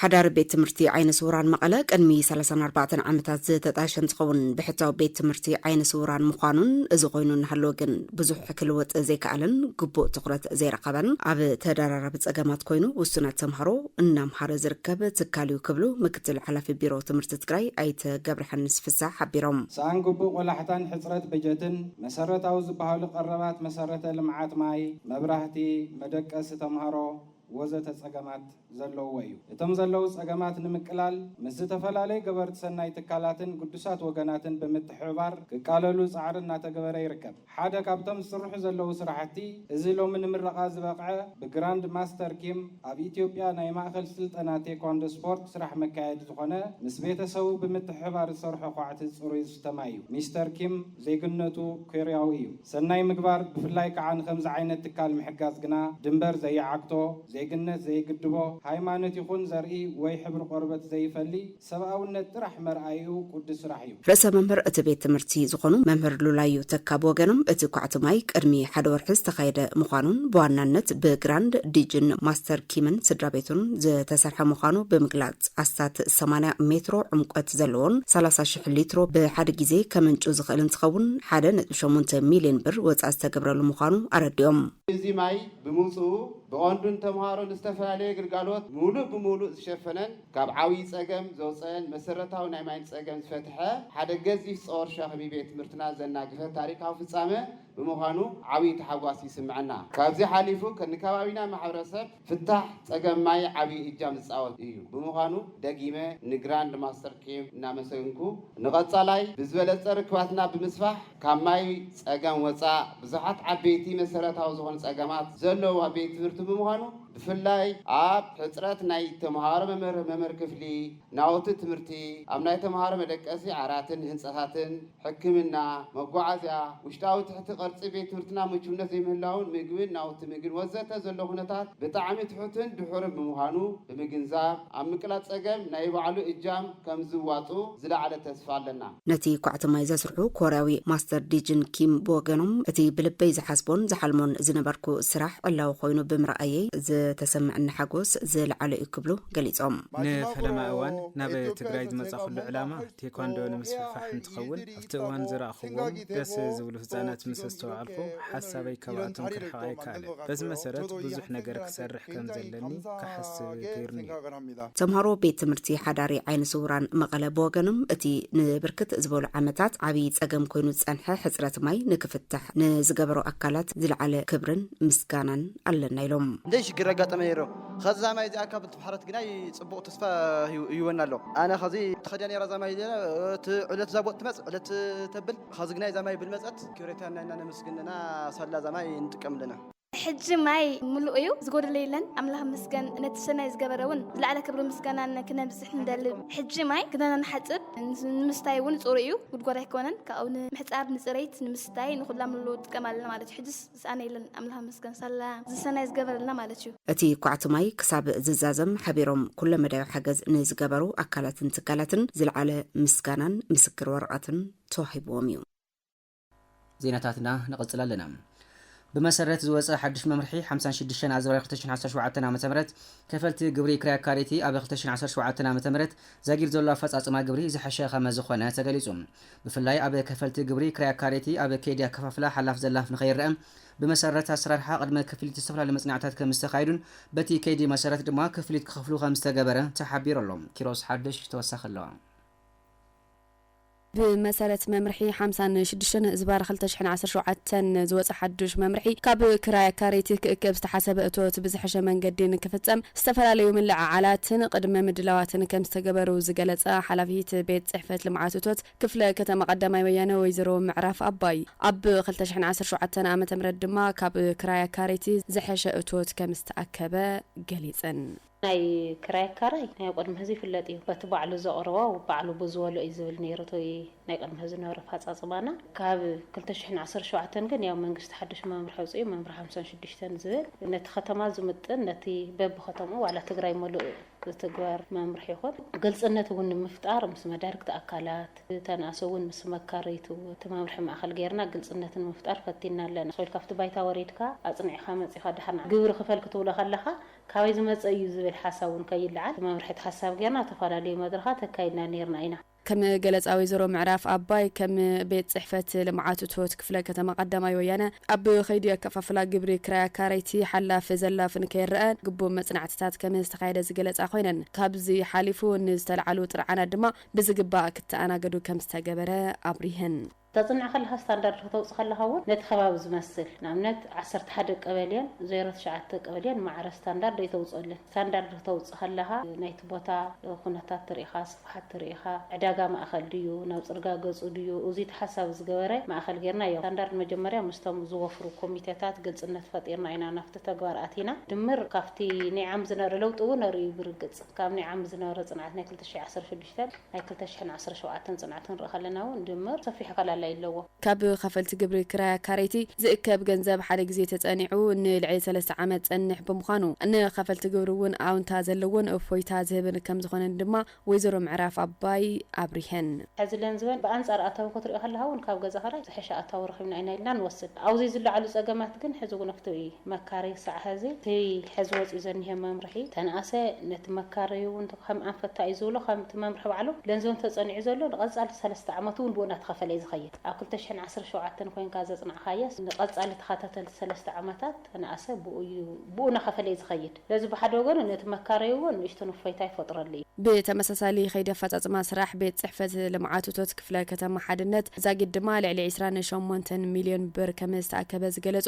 ሓዳሪ ቤት ትምህርቲ ዓይነ ስውራን መቐለ ቅድሚ ሰላሳን ኣርባዕተን ዓመታት ዝተጣየሸ እንትኸውን ብሕታዊ ቤት ትምህርቲ ዓይነ ስውራን ምዃኑን እዚ ኮይኑ እናሃለወ ግን ብዙሕ ክልወጥ ዘይከኣለን ግቡእ ትኹረት ዘይረኸበን ኣብ ተደራራቢ ፀገማት ኮይኑ ውሱናት ተምሃሮ እናምሃረ ዝርከብ ትካል እዩ ክብሉ ምክትል ሓላፊ ቢሮ ትምህርቲ ትግራይ ኣይተ ገብረሓንስ ፍስሃ ሓቢሮም። ሰኣን ግቡእ ቆላሕታን ሕፅረት በጀትን መሰረታዊ ዝበሃሉ ቀረባት መሰረተ ልምዓት ማይ፣ መብራህቲ፣ መደቀሲ ተምሃሮ ወዘተ ፀገማት ዘለውዎ እዩ። እቶም ዘለዉ ፀገማት ንምቅላል ምስ ዝተፈላለዩ ገበርቲ ሰናይ ትካላትን ግዱሳት ወገናትን ብምትሕብባር ክቃለሉ ፃዕሪ እናተገበረ ይርከብ። ሓደ ካብቶም ዝስርሑ ዘለዉ ስራሕቲ እዚ ሎሚ ንምረቓ ዝበቕዐ ብግራንድ ማስተር ኪም ኣብ ኢትዮጵያ ናይ ማእኸል ስልጠና ቴኳንዶ ስፖርት ስራሕ መካየዲ ዝኾነ ምስ ቤተሰቡ ብምትሕብባር ዝሰርሖ ኳዕቲ ፅሩይ ዝስተ ማይ እዩ። ሚስተር ኪም ዜግነቱ ኮርያዊ እዩ። ሰናይ ምግባር ብፍላይ ከዓ ንኸምዚ ዓይነት ትካል ምሕጋዝ ግና ድንበር ዘይዓግቶ፣ ዜግነት ዘይግድቦ፣ ሃይማኖት ይኹን ዘርኢ ወይ ሕብሪ ቆርበት ዘይፈሊ፣ ሰብኣውነት ጥራሕ መርኣይኡ ቁዱስ ስራሕ እዩ። ርእሰ መምህር እቲ ቤት ትምህርቲ ዝኾኑ መምህር ሉላዩ ተካ ብወገኖም እቲ ኳዕቲ ማይ ቅድሚ ሓደ ወርሒ ዝተኻየደ ምዃኑን ብዋናነት ብግራንድ ዲጅን ማስተር ኪምን ስድራቤቱን ዝተሰርሐ ምዃኑ ብምግላፅ ኣስታት ሰማንያ ሜትሮ ዕምቆት ዘለዎን ሰላሳ ሽሕ ሊትሮ ብሓደ ግዜ ከምንጩ ዝኽእል እንትኸውን ሓደ ነጥቢ ሸሞንተ ሚሊየን ብር ወፃኢ ዝተገብረሉ ምዃኑ ኣረዲኦም። እዚ ማይ ብምውፅኡ ብቐንዱ ንተምሃሮ ንዝተፈላለየ ግልጋሎት ሙሉእ ብሙሉእ ዝሸፈነን ካብ ዓብዪ ፀገም ዘውፀኤን መሰረታዊ ናይ ማይ ፀገም ዝፈትሐ ሓደ ገዚፍ ፀወር ሸኽሚ ቤት ትምህርትና ዘናገፈ ታሪካዊ ፍፃመ ብምዃኑ ዓብዪ ታሕጓስ ይስመዐና። ካብዚ ሓሊፉ ንከባቢና ማሕበረሰብ ፍታሕ ፀገም ማይ ዓብዪ እጃም ዝፃወት እዩ ብምዃኑ ደጊመ ንግራንድ ማስተር ኪም እናመሰግንኩ ንቐፃላይ ብዝበለፀ ርክባትና ብምስፋሕ ካብ ማይ ፀገም ወፃእ ብዙሓት ዓበይቲ መሰረታዊ ዝኾኑ ፀገማት ዘለዉዋ ቤት ትምህርቲ ብምዃኑ ብፍላይ ኣብ ሕፅረት ናይ ተምሃሮ መምህር መምህር ክፍሊ፣ ናውቲ ትምህርቲ፣ ኣብ ናይ ተምሃሮ መደቀሲ ዓራትን ህንፃታትን፣ ሕክምና፣ መጓዓዝያ፣ ውሽጣዊ ትሕቲ ቅርፂ ቤት ትምህርትና ምቹውነት ዘይምህላውን ምግብን ናውቲ ምግብን ወዘተ ዘሎ ኩነታት ብጣዕሚ ትሑትን ድሑርን ብምዃኑ ብምግንዛብ ኣብ ምቅላጥ ፀገም ናይ ባዕሉ እጃም ከምዝዋፅኡ ዝለዓለ ተስፋ ኣለና። ነቲ ኳዕቲ ማይ ዘስርሑ ኮርያዊ ማስተር ዲጅን ኪም ብወገኖም፣ እቲ ብልበይ ዝሓስቦን ዝሓልሞን ዝነበርኩ ስራሕ ዕላዊ ኰይኑ ብምርኣየይ ዝተሰምዐኒ ሓጐስ ዝለዓለ'ዩ ክብሉ ገሊፆም። ንፈለማ እዋን ናብ ትግራይ ዝመፃኹሉ ዕላማ ቴኳንዶ ንምስፍሕፋሕ እንትኸውን፣ ኣብቲ እዋን ዝረኣኹዎም ደስ ዝብሉ ህጻናት ምስ ኣስተውዓልኩ፣ ሓሳበይ ካብኣቶም ክርሕቕ ኣይከኣለን። በዚ መሰረት ብዙሕ ነገር ክሰርሕ ከም ዘለኒ ክሓስብ ገይሩኒ'ዩ። ተምሃሮ ቤት ትምህርቲ ሓዳሪ ዓይነ ስውራን መቐለ ብወገኖም፣ እቲ ንብርክት ዝበሉ ዓመታት ዓብዪ ጸገም ኮይኑ ዝጸንሐ ሕጽረት ማይ ንክፍታሕ ንዝገበሩ ኣካላት ዝለዓለ ክብርን ምስጋናን ኣለና ኢሎም። ምሕረት ግናይ ጽቡቕ ተስፋ ሂቡወና ኣሎ። ኣነ ኸዚ ተኸዲያ ነይራ እዛ ማይ እዚኣ እቲ ዕለት እዛ ቦጥ ትመጽእ ዕለት ተብል ኸዚ ግናይ እዛ ማይ ብልመጸት ክብሬታና እና ነመስግን እና ሳላ እዛ ማይ ንጥቀም ኣለና። ሕጂ ማይ ምሉእ እዩ ዝጎድል የለን ኣምላኽ ይመስገን ነቲ ሰናይ ዝገበረ ውን ዝለዓለ ክብርን ምስጋናን ክነብጽሕ ንደሊ ሕጂ ማይ ክዳና ንሓጽብ ንምስታይ ውን ጽሩይ እዩ ጉድጓድ ኣይኮነን ካብኡ ንምሕጻብ ንጽሬት ንምስታይ ንኹላ ምሉእ ንጥቀም ኣለና ማለት እዩ ሕጅስ ዝሰኣነየለን ኣምላኽ ይመስገን ሳላ ዝሰናይ ዝገበረልና ማለት እዩ። እቲ ኳዕቲ ማይ ክሳብ ዝዛዘም ሓቢሮም ኩለ መዳያዊ ሓገዝ ንዝገበሩ ኣካላትን ትካላትን ዝለዓለ ምስጋናን ምስክር ወረቐትን ተዋሂብዎም እዩ። ዜናታትና ንቕጽል ኣለና። ብመሰረት ዝወጸ ሓድሽ መምርሒ ሓምሳን ሽዱሽተን ኣዘዋሪ ክልተ ሽሕን ዓሰርተ ሸውዓተን ዓመተ ምህረት ከፈልቲ ግብሪ ክራይ ኣካረይቲ ኣብ ክልተ ሽሕን ዓሰርተ ሸውዓተን ዓመተ ምህረት ዛጊድ ዘሎ ኣፈጻጽማ ግብሪ ዝሐሸ ከመዝኾነ ተገሊጹ። ብፍላይ ኣብ ከፈልቲ ግብሪ ክራይ ኣካረይቲ ኣብ ከይዲ ኣከፋፍላ ሓላፍ ዘላፍ ንከይረኣ ብመሰረት ኣሰራርሓ ቅድመ ክፍሊት ዝተፈላለዩ መፅናዕትታት ከምዝተኻየዱን በቲ ከይዲ መሰረት ድማ ክፍሊት ክኸፍሉ ከምዝተገበረ ተሓቢሩ ኣሎ። ኪሮስ ሓዱሽ ተወሳኺ ኣለዎ። ብመሰረት መምርሒ ሓምሳን ሽዱሽተን ህዝባር ክልተ ሽሕን ዓሰርተ ሸውዓተን ዝወፀ ሓዱሽ መምርሒ ካብ ክራይ ኣካረይቲ ክእከብ ዝተሓሰበ እቶት ብዝሐሸ መንገዲ ንክፍፀም ዝተፈላለዩ ምልዕዓላትን ቕድመ ምድላዋትን ከምዝተገበሩ ዝገለፃ ሓላፊት ቤት ፅሕፈት ልምዓት እቶት ክፍለ ከተማ ቐዳማይ ወያነ ወይዘሮ ምዕራፍ ኣባይ ኣብ ክልተ ሽሕን ዓሰርተ ሸውዓተን ዓ ም ድማ ካብ ክራይ ኣካረይቲ ዝሐሸ እቶት ከምዝተኣከበ ገሊፀን። ናይ ክራይ ኣካራይ ናይ ቕድሚ ሕዚ ይፍለጥ እዩ በቲ ባዕሉ ዘቕርቦ ባዕሉ ብዝበልኦ እዩ ዝብል ነይሩ እቲ ናይ ቅድሚ ሕዚ ዝነበረ ኣፋፃፅማና ካብ ክልተ ሽሕን ዓሰርተ ሸውዓተን ግን ያው መንግስቲ ሓዱሽ መምርሒ ኣውፂኡ መምርሒ ሓምሳን ሽዱሽተን ዝብል ነቲ ከተማ ዝምጥን ነቲ በቢከተምኡ ዋላ ትግራይ ሙሉእ ዝትግበር መምርሒ ይኹን ግልፅነት እውን ንምፍጣር ምስ መዳርግቲ ኣካላት ተንኣሶ እውን ምስ መካረይቱ እቲ መምርሒ ማእኸል ገይርና ግልፅነት ንምፍጣር ፈቲንና ኣለና እኮ ኢልካ ኣብቲ ባይታ ወሪድካ ኣፅኒዕኻ መፂኻ ድሓር ንዓ ግብሪ ክፈል ክትብሎ ከለኻ ካበይ ዝመፀ እዩ ዝብል ሓሳብ እውን ከይለዓል እቲ መምርሒ እቲ ሓሳብ ገይርና ኣብ ተፈላለዩ መድረኻት ኣካይድና ነይርና ኢና። ከም ገለፃ ወይዘሮ ምዕራፍ ኣባይ፣ ከም ቤት ፅሕፈት ልምዓት እቶት ክፍለ ከተማ ቀዳማይ ወያነ ኣብ ከይዲ ኣከፋፍላ ግብሪ ክራይ ኣካረይቲ ሓላፍ ዘላፍ ንከይረኣ ግቡእ መፅናዕትታት ከም ዝተኻየደ ዝገለፃ ኮይነን ካብዚ ሓሊፉ ንዝተልዓሉ ጥርዓናት ድማ ብዝግባእ ክተኣናገዱ ከም ዝተገበረ ኣብሪሀን። ተጽንዕ ከለኻ ስታንዳርድ ከተውጽእ ከለኻ እውን ነቲ ከባቢ ዝመስል ንኣብነት ዓሰርተ ሓደ ቀበሌን ዜሮ ትሽዓተ ቀበሌን ማዕረ ስታንዳርድ ኣይተውጽእልን። ስታንዳርድ ክተውጽእ ከለኻ ናይቲ ቦታ ኩነታት ተርኢኻ፣ ስፍሓት ተርኢኻ፣ ዕዳጋ ማእከል ድዩ፣ ናብ ጽርጋ ገጹ ድዩ፣ እዙይ ተሓሳቢ ዝገበረ ማእከል ጌርና እዮ ስታንዳርድ መጀመርያ ምስቶም ዝወፍሩ ኮሚቴታት ግልጽነት ፈጢርና ኢና ናብቲ ተግባር ኣቲና። ድምር ካብቲ ናይ ዓም ዝነበረ ለውጢ እውን ኣርእዩ ብርግጽ ካብ ናይ ዓም ዝነበረ ጽንዓት ናይ ክልተ ሽሕ ዓሰርተ ሽዱሽተ። ሰብ ናይ ክልተ ሽሕን ዓሰርተ ሸውዓተን ፅንዓት ክንርኢ ከለና እውን ድምር ሰፊሕ ኣፈላላይ ኣለዎ። ካብ ኸፈልቲ ግብሪ ክራይ ኣካረይቲ ዝእከብ ገንዘብ ሓደ ግዜ ተፀኒዑ ንልዕሊ ሰለስተ ዓመት ዝፀንሕ ብምዃኑ ንኸፈልቲ ግብሪ እውን ኣውንታ ዘለዎን እፎይታ ዝህብን ከምዝኾነን ድማ ወይዘሮ ምዕራፍ ኣባይ ኣብሪሀን። ሕዚ ለንዝበን ብኣንፃር ኣታዊ ክትሪኦ ከለኻ እውን ካብ ገዛ ኽራይ ዝሐሸ ኣታዊ ረኺብና ኢና ኢልና ንወስድ። ኣብዙይ ዝለዓሉ ፀገማት ግን ሕዚ እውን እቲ መካረይ ክሳዕ ሐዚ እቲ ሕዚ ወፂኡ ዘኒሀ መምርሒ ተንኣሰ ነቲ መካረይ እውን ከም ኣንፈት ኣዩ ዝብሎ ከምቲ መምርሒ ባዕሉ ገንዘቡ እንተጸኒዑ ዘሎ ንቀጻሊ ሰለስተ ዓመቱ ውን ብኡ እንዳተኸፈለ ዩ ዝኸይድ ኣብ ክልተ ሽሕን ዓሰርተ ሸውዓተን ኮይንካ ዘጽናዕኻዮስ ንቀጻሊ ተኸታተልቲ ሰለስተ ዓመታት ተነኣሰ ብኡ ዩ ብኡ ናኸፈለ ዩ ዝኸይድ ስለዚ ብሓደ ወገኑ ነቲ መካረዩ ውን ንእሽቱን እፎይታ ይፈጥረሉ ዩ። ብተመሳሳሊ ከይዲ ኣፈጻጽማ ስራሕ ቤት ጽሕፈት ልምዓት እቶት ክፍለ ከተማ ሓድነት ዛጊድ ድማ ልዕሊ ዕስራን ሸሞንተን ሚልዮን ብር ከምዝተኣከበ ዝገለጹ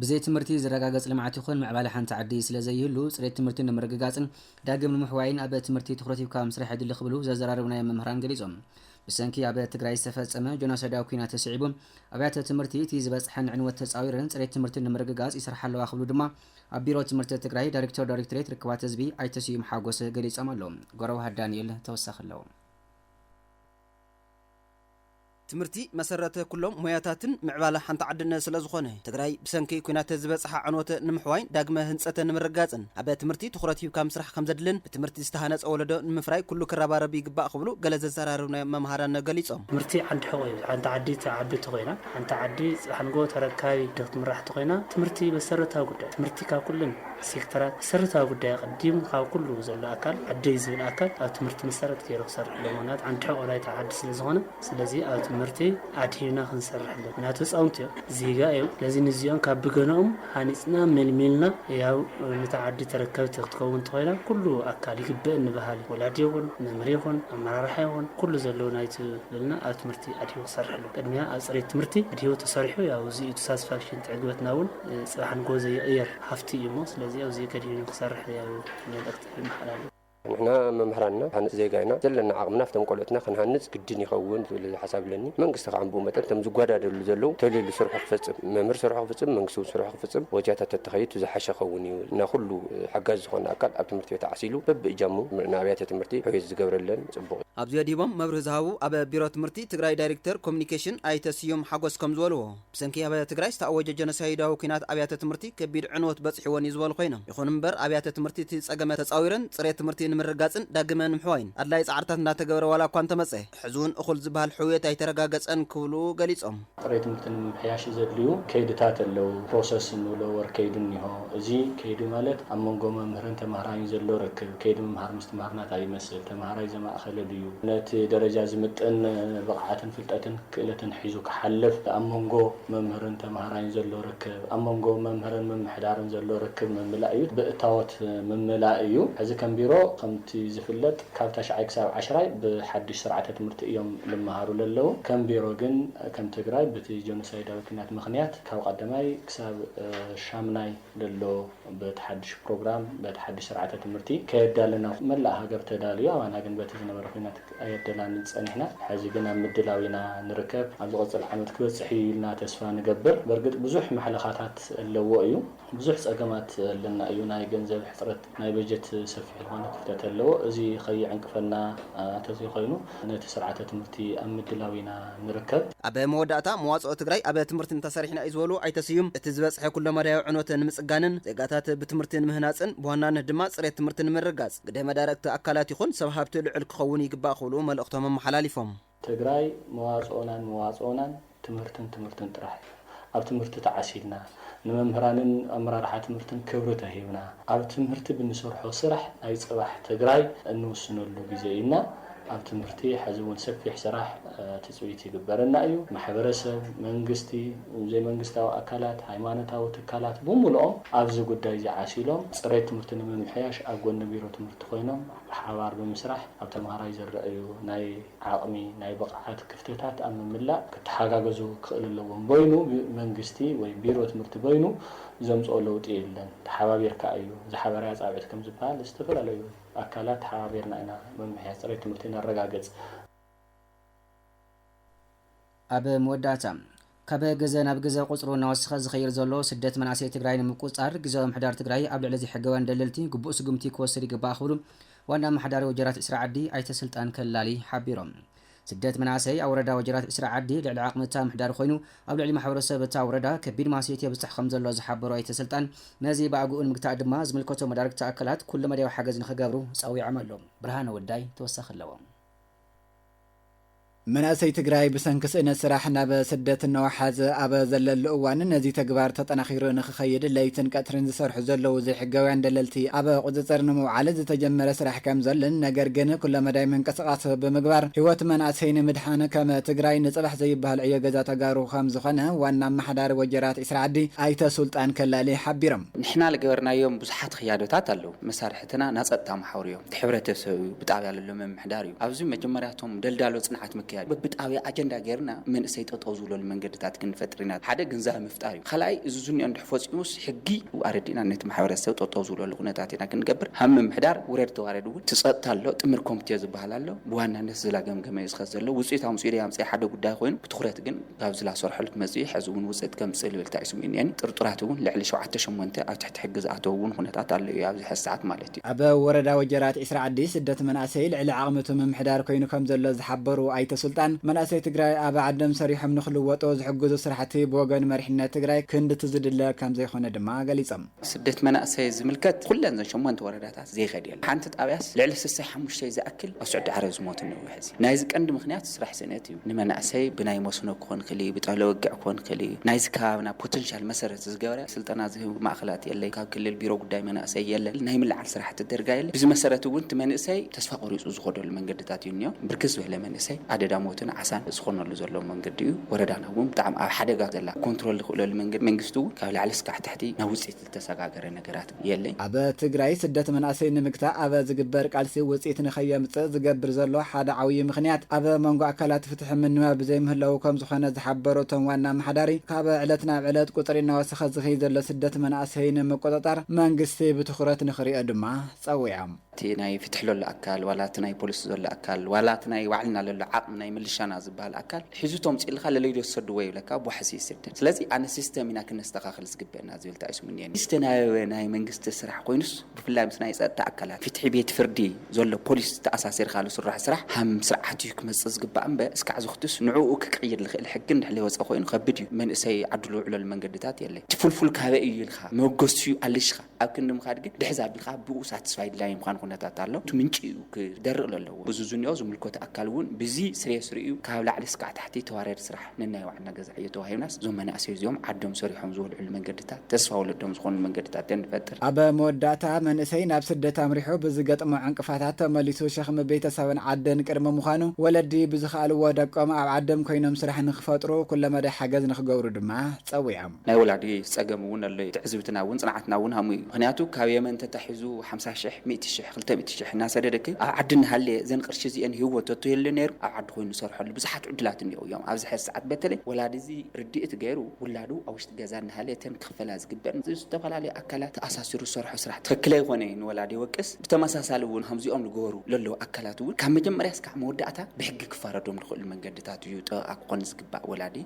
ብዘይ ትምህርቲ ዝረጋገፅ ልምዓት ይኹን ምዕባለ ሓንቲ ዓዲ ስለዘይህሉ ፅሬት ትምህርቲ ንምርግጋፅን ዳግም ንምሕዋይን ኣብ ትምህርቲ ትኹረት ሂብካ ምስራሕ የድሊ ክብሉ ዘዘራረብናዮም መምህራን ገሊፆም። ብሰንኪ ኣብ ትግራይ ዝተፈፀመ ጆኖሳይዳዊ ኲናት ስዒቡ ኣብያተ ትምህርቲ እቲ ዝበፅሐን ዕንወት ተፃዊረን ፅሬት ትምህርቲ ንምርግጋፅ ይሰርሓ ኣለዋ ክብሉ ድማ ኣብ ቢሮ ትምህርቲ ትግራይ ዳይሬክተር ዳይሬክቶሬት ርክባት ህዝቢ ኣይተ ስዩም ሓጎስ ገሊፆም ኣለው። ጎረዋህት ዳንኤል ተወሳኺ ኣለው። ትምህርቲ መሰረተ ኩሎም ሞያታትን ምዕባለ ሓንቲ ዓድን ስለዝኾነ፣ ትግራይ ብሰንኪ ኩናት ዝበፅሓ ዕንወት ንምሕዋይን ዳግመ ህንፀት ንምርግጋፅን ኣብ ትምህርቲ ትኹረት ሂብካ ምስራሕ ከምዘድልን ብትምህርቲ ዝተሃነፀ ወለዶ ንምፍራይ ኩሉ ክረባረብ ይግባእ ክብሉ ገለ ዘዘራረብናዮም መምሃራን ገሊፆም። ትምህርቲ ዓንዲ ሕቆ እዩ። ሓንቲ ዓዲ ትዓቢ እንተኾይና፣ ሓንቲ ዓዲ ፅባሕ ንግሆ ተረካቢ ክትምራሕ እንተኾይና ትምህርቲ መሰረታዊ ጉዳይ እዩ። ትምህርቲ ካብ ኩለን። ሴክተራት መሰረታዊ ጉዳይ ኣቐዲሙ ካብ ኩሉ ዘሎ ኣካል ኣደይ ዝብል ኣካል ኣብ ትምህርቲ መሰረት ገይሩ ክሰርሐሎም ምኽንያቱ ሓንቲ ሕቖ ናይቲ ዓዲ ስለ ዝኾነ ስለዚ ኣብ ትምህርቲ ኣድሂብና ክንሰርሐሎም ምኽንያቱ ህፃውንቲ እዮም ዜጋ እዮም ስለዚ ንዚኦም ካብ ብገነኦም ሃኒፅና መልሚልና ያው ነታ ዓዲ ተረከብቲ ክትከውን እንተኾይና ኩሉ ኣካል ይግበእኒ በሃሊ ወላዲ ይኹን መምህር ይኹን ኣመራርሓ ይኹን ኩሉ ዘለዎ ናይቱ በልና ኣብ ትምህርቲ ኣድሂቡ ክሰርሐሎም ቅድሚያ ኣብ ፅሬት ትምህርቲ ኣድሂቡ ተሰሪሑ ያው እዚ እዩ ተሳስፋክሽን እቲ ዕግበትና እውን ፅባሕ ንግሆ ዘይቕየር ሃፍቲ እዩ እሞ ስለዚ ኣብዙይ ከዲኑ ክሰርሕ ያው መልእኽቲ የመሓላልፍ። ንሕና መምህራንና ሃነፅ ዜጋ ኢና ዘለና ዓቕምና ኣብቶም ቆልዑትና ክንሃንፅ ግድን ይኸውን ዝብል ሓሳብ ኣለኒ መንግስቲ ካዓ ብኡ መጠን እቶም ዝጓዳደሉ ዘለው ተሊሉ ስርሑ ክፈፅም መምህር ስርሑ ክፍፅም መንግስቲ እውን ስርሑ ክፍፅም ወጃታት ተተኸይቱ ዝሓሸ ክኸውን እዩ እና ኩሉ ሓጋዚ ዝኾነ ኣካል ኣብ ትምህርቲ ቤት ዓሲሉ በቢእጃሙ ንኣብያተ ትምህርቲ ሕውየት ዝገብረለን ፅቡቕ እዩ። ኣብዚ ኣድሂቦም መብርሂ ዝሃቡ ኣብ ቢሮ ትምህርቲ ትግራይ ዳይሬክተር ኮሙኒኬሽን ኣይተ ስዩም ሓጎስ ከምዝበልዎ፣ ብሰንኪ ኣብ ትግራይ ዝተኣወጀ ጀኖሳይዳዊ ኲናት ኣብያተ ትምህርቲ ከቢድ ዕንወት በጺሕወን'ዩ ዝበሉ ኮይኖም፣ ይኹን'ምበር ኣብያተ ትምህርቲ እቲ ጸገመ ተጻዊረን ጽሬት ትምህርቲ ንምርግጋጽን ዳግመ ንምሕዋይን ኣድላዪ ጻዕርታት እንዳተገበረ ዋላ'ኳ እንተመጸ ሕዚ'ውን እኹል ዝበሃል ሕውየት ኣይተረጋገጸን ክብሉ ገሊጾም። ጥሬት ትምህርቲ ንምምሕያሽ ዘድልዩ ከይድታት ኣለው። ፕሮሰስ እንብሎ ወር ከይዲ እኒሆ። እዚ ከይዲ ማለት ኣብ መንጎ መምህርን ተማሃራይን ዘሎ ርክብ፣ ከይዲ ምምሃር ምስትምሃር ናታይ ይመስል፣ ተማሃራይ ዘማእኸለ ድዩ፣ ነቲ ደረጃ ዝምጥን ብቕዓትን ፍልጠትን፣ ክእለትን ሒዙ ክሓልፍ፣ ኣብ መንጎ መምህርን ተማሃራይን ዘሎ ርክብ፣ ኣብ መንጎ መምህርን ምምሕዳርን ዘሎ ርክብ ምምላእ እዩ። ብእታዎት ምምላእ እዩ። ሕዚ ከም ቢሮ ከምቲ ዝፍለጥ ካብ ታሽዓይ ክሳብ ዓሽራይ ብሓድሽ ስርዓተ ትምህርቲ እዮም ልመሃሩ ለለዉ። ከም ቢሮ ግን ከም ትግራይ ብቲ ጆኖሳይዳዊ ኩናት ምኽንያት ካብ ቐዳማይ ክሳብ ሻምናይ ለሎ በቲ ሓድሽ ፕሮግራም በቲ ሓድሽ ስርዓተ ትምህርቲ ከየዳለና መላእ ሃገር ተዳልዩ ኣባና ግን በቲ ዝነበረ ኩናት ኣየደላንን ጸኒሕና ሕዚ ግን ኣብ ምድላው ኢና ንርከብ ኣብ ዝቕጽል ዓመት ክበጽሕ እዩ ኢልና ተስፋ ንገብር በርግጥ ብዙሕ ማሕለኻታት ኣለዎ እዩ ብዙሕ ጸገማት ኣለና እዩ ናይ ገንዘብ ሕጽረት ናይ በጀት ሰፊሕ ዝኾነ ክፍተት ኣለዎ እዚ ከይዕንቅፈና ተዘይኮይኑ ነቲ ስርዓተ ትምህርቲ ኣብ ምድላው ኢና ንርከብ። ኣብ መወዳእታ፣ መዋፅኦ ትግራይ ኣብ ትምህርቲ እንተሰሪሕና እዩ ዝበሉ ኣይተ ስዩም፣ እቲ ዝበፅሐ ኩለመዳያዊ ዕንወት ንምፅጋንን ዜጋታት ብትምህርቲ ንምህናፅን ብዋናነት ድማ ፅሬት ትምህርቲ ንምርግጋፅ ግደ መዳርግቲ ኣካላት ይኹን ሰብ ሃብቲ ልዑል ክኸውን ይግባእ ክብሉ መልእኽቶም ኣመሓላሊፎም። ትግራይ መዋፅኦናን መዋፅኦናን ትምህርትን ትምህርትን ጥራሕ እዩ። ኣብ ትምህርቲ ተዓሲልና፣ ንመምህራንን ኣመራርሓ ትምህርትን ክብሪ ተሂብና፣ ኣብ ትምህርቲ ብንሰርሖ ስራሕ ናይ ፅባሕ ትግራይ እንውስነሉ ግዜ እዩ እና ኣብ ትምህርቲ ሐዚ እውን ሰፊሕ ስራሕ ትፅቢት ይግበረና እዩ። ማሕበረሰብ፣ መንግስቲ፣ ዘይመንግስታዊ ኣካላት፣ ሃይማኖታዊ ትካላት ብሙሉኦም ኣብዚ ጉዳይ እዚ ዓሲሎም ፅሬት ትምህርቲ ንምምሕያሽ ኣብ ጎኒ ቢሮ ትምህርቲ ኮይኖም ብሓባር ብምስራሕ ኣብ ተምሃራይ ዝረኣዩ ናይ ዓቕሚ፣ ናይ ብቕዓት ክፍተታት ኣብ ምምላእ ክተሓጋገዙ ክኽእል ኣለዎም። በይኑ መንግስቲ ወይ ቢሮ ትምህርቲ በይኑ ዘምጽኦ ለውጢ የለን። ተሓባቢርካ እዩ። ዝሓበራያ ጻውዒት ከም ዝበሃል ዝተፈላለዩ ኣካላት ተሓባቢርና ኢና መምሕያሽ ጽሬት ትምህርቲ ነረጋግጽ። ኣብ መወዳእታ፣ ካብ ግዘ ናብ ግዘ ቁፅሩ እናወሰኸ ዝኸይድ ዘሎ ስደት መናእሰይ ትግራይ ንምቁፅፃር ግዝያዊ ምምሕዳር ትግራይ ኣብ ልዕሊ ዘይሕጋውያን ደለልቲ ግቡእ ስጉምቲ ክወስድ ይግባእ ክብሉ ዋና ኣመሓዳሪ ወጀራት ዒስራ ዓዲ ኣይተ ስልጣን ከላሊ ሓቢሮም። ስደት መናእሰይ ኣብ ወረዳ ወጀራት ዒስራ ዓዲ ልዕሊ ዓቕሚ እታ ምምሕዳር ኮይኑ ኣብ ልዕሊ ማሕበረሰብ እታ ወረዳ ከቢድ ማህሰይቲ የብፅሕ ከምዘሎ ዝሓበሩ ኣይተ ስልጣን ነዚ ብኣግኡ ንምግታእ ድማ ዝምልከቶም መዳርግቲ ኣካላት ኩለመዳያዊ ሓገዝ ንክገብሩ ፀዊዖም ኣለው። ብርሃነ ወልዳይ ተወሳኺ ኣለዎ። መናእሰይ ትግራይ ብሰንኪ ስእነት ስራሕ ናብ ስደት እናወሓዘ ኣብ ዘለሉ እዋን ነዚ ተግባር ተጠናኺሩ ንክኸይድ ለይትን ቀትርን ዝሰርሑ ዘለዉ ዘይሕጋውያን ደለልቲ ኣብ ቁፅፅር ንምውዓል ዝተጀመረ ስራሕ ከምዘሎን ነገር ግን ኩለመዳይ ምንቅስቓስ ብምግባር ህይወት መናእሰይ ንምድሓን ከም ትግራይ ንፅባሕ ዘይበሃል ዕዮ ገዛ ተጋሩ ከምዝኾነ ዋና ኣመሓዳሪ ወጀራት ኢስራኣዲ ኣይተ ሱልጣን ከላሊ ሓቢሮም። ንሕና ልገበርናዮም ብዙሓት ኽያዶታት ኣለዉ። መሳርሒ። ፈተና ናይ ጸጥታ መሓውር እዮም። እቲ ሕብረተሰብ እዩ፣ ብጣብያ ለሎ ምምሕዳር እዩ። ኣብዚ መጀመርያ እቶም ደልዳሎ ጽንዓት ምክያድ እዩ። በብጣብያ ኣጀንዳ ገይርና መንእሰይ ጠጠው ዝብለሉ መንገድታት ክንፈጥር ኢና። ሓደ ግንዛበ ምፍጣር እዩ። ካልኣይ እዚ ዝንኦ እንድሕር ፈጺሙስ ሕጊ ኣረዲእና ነቲ ማሕበረሰብ ጠጠው ዝብለሉ ኩነታት ኢና ክንገብር። ሃም ምምሕዳር ውረድ ተዋረድ እውን እቲ ጸጥታ ኣሎ፣ ጥምር ኮምቴ ዝበሃል ኣሎ። ብዋናነት እዚ ላገምገመ እዩ ዝኸድ ዘሎ። ውጽኢት ኣምጺኡ ደይ ኣምጽኣ ሓደ ጉዳይ ኮይኑ ብትኹረት ግን። ካብ ዝላሰርሑል መጺኡ ሐዚ ውን ውጽእት ከምጽእ ልብል ተዒስቡ እዩ እኔን ጥርጡራት ውን ልዕሊ ሸውዓተ ሸሞንተ ኣብ ትሕቲ ሕጊ ዝኣተው ውን ኹነታት ኣሎ እዩ ኣብዚ ሐዚ ሰዓት ማለት እዩ። ኣብ ወረዳ ወጀራት ዒስራ ዓዲ ስደት መንኣሰይ ልዕሊ ዓቕምቱ ምምሕዳር ኮይኑ ከምዘሎ ዝሓበሩ ኣይተ ሱልጣን መናእሰይ ትግራይ ኣብ ዓዶም ሰሪሖም ንክልወጡ ዝሕግዙ ስራሕቲ ብወገን መሪሕነት ትግራይ ክንድቲ ዝድለ ከምዘይኾነ ድማ ገሊፆም። ስደት መናእሰይ ዝምልከት ኩለን እዘን ሸሞንተ ወረዳታት ዘይከድ የለን። ሓንቲ ጣብያስ ልዕሊ ስሰይ ሓሙሽተይ ዝኣክል ኣብ ስዑዲ ዓረብ ዝሞቱ እኒዉ ሐዚ። ናይዚ ቀንዲ ምክንያት ስራሕ ስእነት እዩ። ንመናእሰይ ብናይ መስኖ ክኾን ይክእል እዩ፣ ብጠለ ወግዕ ክኾን ይክእል እዩ። ናይዚ ከባብና ፖተንሻል መሰረት ዝገበረ ስልጠና ዝህብ ማእኸላት የለይ፣ ካብ ክልል ቢሮ ጉዳይ መናእሰይ የለን፣ ናይ ምልዓል ስራሕቲ ደርጋ የለን። ብዚ መሰረት እውን እቲ መንእሰይ ተስፋ ቆሪፁ ዝኸደሉ መንገድታት እዩ እኒኦ። ብርክት ዝበለ መንእሰይ ኣደዳ ሞትን ዓሳን ዝኾነሉ ዘሎ መንገዲ እዩ። ወረዳና። እውን ብጣዕሚ ኣብ ሓደጋ ዘላ ኮንትሮል ዝኽእለሉ መንገዲ መንግስቲ እውን ካብ ላዕሊ እስካዕ ታሕቲ ናብ ውፅኢት ዝተሰጋገረ ነገራት የለይ። ኣብ ትግራይ ስደት መናእሰይ ንምግታእ ኣብ ዝግበር ቃልሲ ውፅኢት ንከየምፅእ ዝገብር ዘሎ ሓደ ዓውዪ ምኽንያት ኣብ መንጎ ኣካላት ፍትሒ ምንባብ ብዘይምህላዉ ከምዝኾነ ዝሓበሩ እቶም ዋና ኣመሓዳሪ ካብ ዕለት ናብ ዕለት ቁፅሪ እናወሰኸ ዝኸይድ ዘሎ ስደት መናእሰይ ንምቁፅፃር መንግስቲ ብትኹረት ንክሪኦ ድማ ፀዊዖም። እቲ ናይ ፍትሒ ለሎ ኣካል ዋላ እቲ ናይ ፖሊስ ዘሎ ኣካል ዋላ እቲ ናይ ባዕልና ለሎ ዓቕሚ ናይ ምልሻና ዝብሃል ኣካል ሒዙ ተምጺኡልካ ለለይዶ ትሰድዎ ይብለካ ኣብ ዋሕሲ ይስደድ ስለዚ ኣነ ሲስተም ኢና ክነስተኻኽል ዝግበእና ዝብል ተኣይሱሙኒየኒ ዝተናበበ ናይ መንግስቲ ስራሕ ኮይኑስ ብፍላይ ምስ ናይ ጸጥታ ኣካላት ፍትሒ ቤት ፍርዲ ዘሎ ፖሊስ ተኣሳሲርካ ልስራሖ ስራሕ ሃም ስርዓት እዩ ክመጽእ ዝግባእ እምበ እስካዕ ዝክቱስ ንዕኡ ክቅይር ልኽእል ሕጊ እንድሕር ለይወጸ ኮይኑ ከብድ እዩ መንእሰይ ዓዱ ልውዕለሉ መንገድታት የለይ እቲ ፍልፉል ካበይ እዩ ኢልካ መበገሲኡ ኣሊሽካ ኣብ ክንዲ ምኻድ ግን ድሕዝ ኣቢልካ ብኡ ሳትስፋይድ ላይን ምዃን ኩነታት ኣሎ። እቲ ምንጪ እዩ ክደርቕ ለለዎ። ብዚ ዝንኦ ዝምልኮቶ ኣካል እውን ብዚ ስሬስ ርእዩ ካብ ላዕሊ ስካዕ ታሕቲ ተዋርያዲ ስራሕ ነናይ ባዕልና ገዛ ዕዮ ተዋሂብናስ እዞም መናእሰይ እዚኦም ዓዶም ሰሪሖም ዝበልዕሉ መንገድታት ተስፋ ወለዶም ዝኾንሉ መንገድታት ገን ንፈጥር። ኣብ መወዳእታ መንእሰይ ናብ ስደት ኣምሪሑ ብዝገጥሞ ዕንቅፋታት ተመሊሱ ሸኽሚ ቤተሰብን ዓድን ቅድሚ ምዃኑ ወለዲ ብዝኸኣልዎ ደቆም ኣብ ዓዶም ኮይኖም ስራሕ ንክፈጥሩ ኩለመዳይ ሓገዝ ንክገብሩ ድማ ጸዊዖም። ናይ ወላዲ ጸገም ውን ኣሎ ዩ ትዕዝብትና ውን ጽንዓትና ውን ሃሙ ዩ ምክንያቱ ካብ የመን ተታሒዙ ሓምሳ ሽሕ ሚእቲ ሽሕ ክልተ ሚእቲ ሽሕ እናሰደደኪ ኣብ ዓዲ እናሃለየ እዘን ቅርሺ እዚኤን ሂብዎ ተትህሉ ነይሩ ኣብ ዓዲ ኮይኑ ዝሰርሐሉ ብዙሓት ዕዱላት እኒኦው ዮም ኣብዚ ሐዚ ሰዓት በተለይ ወላዲ እዚ ርድኢት ገይሩ ውላዱ ኣብ ውሽጢ ገዛ እናሃለየ እተን ክክፈላ ዝግበእን ምስ ዝተፈላለዩ ኣካላት ተኣሳሲሩ ዝሰርሖ ስራሕ ትክክል ኣይኮነ ዩ ንወላዲ ይወቅስ ብተመሳሳሊ ውን ከምዚኦም ዝገበሩ ለለው ኣካላት ውን ካብ መጀመርያ እስካዕ መወዳእታ ብሕጊ ክፋረዶም ዝክእሉ መንገድታት ዩ ጠበቃ ክኮን ዝግባእ ወላዲ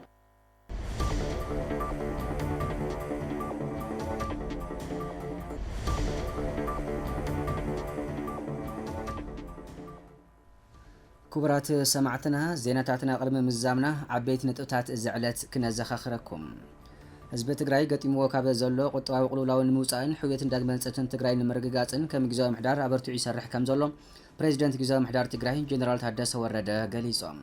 ክቡራት ሰማዕትና ዜናታትና ቅድሚ ምዛምና ዓበይቲ ነጥብታት እዚ ዕለት ክነዘኻኽረኩም ህዝቢ ትግራይ ገጢምዎ ካብ ዘሎ ቁጠባዊ ቅልውላውን ንምውፃእን ሕውየትን ዳግመ ህንፀትን ትግራይ ንምርግጋፅን ከም ግዜያዊ ምሕዳር ኣበርቲዑ ይሰርሕ ከም ዘሎ ፕሬዚደንት ግዜያዊ ምሕዳር ትግራይ ጀኔራል ታደሰ ወረደ ገሊፆም።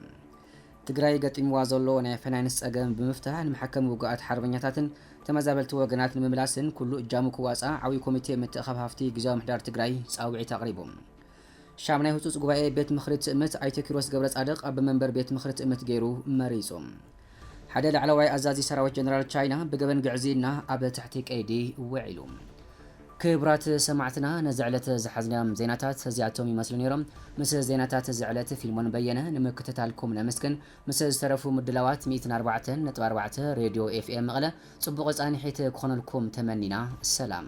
ትግራይ ገጢምዋ ዘሎ ናይ ፋይናንስ ፀገም ብምፍታሕ ንመሐከሚ ውጉኣት ሓርበኛታትን ተመዛበልቲ ወገናት ንምምላስን ኩሉ እጃሙ ክዋፃእ ዓብዪ ኮሚቴ ምትእኽኻብ ሃፍቲ ግዝያዊ ምምሕዳር ትግራይ ፃውዒት ኣቕሪቡ። ሻምናይ ህፁፅ ጉባኤ ቤት ምኽሪ ትእምት ኣይተ ኪሮስ ገብረፃድቕ ኣቦ መንበር ቤት ምኽሪ ትእምት ገይሩ መሪፁ። ሓደ ላዕለዋይ ኣዛዚ ሰራዊት ጀነራል ቻይና ብገበን ግዕዝይና ኣብ ትሕቲ ቀይዲ ውዒሉ። ክብራት ሰማዕትና ነዚ ዕለት ዝሓዝናዮም ዜናታት እዚኣቶም ይመስሉ ኔሮም ምስ ዜናታት እዚ ዕለት ፊልሞን በየነ ንምክትታልኩም ነመስግን ምስ ዝተረፉ ምድላዋት ሚእትን ኣርባዕተን ነጥቢ ኣርባዕተ ሬድዮ ኤፍኤም መቐለ ጽቡቕ ጻኒሒት ክኾነልኩም ተመኒና ሰላም።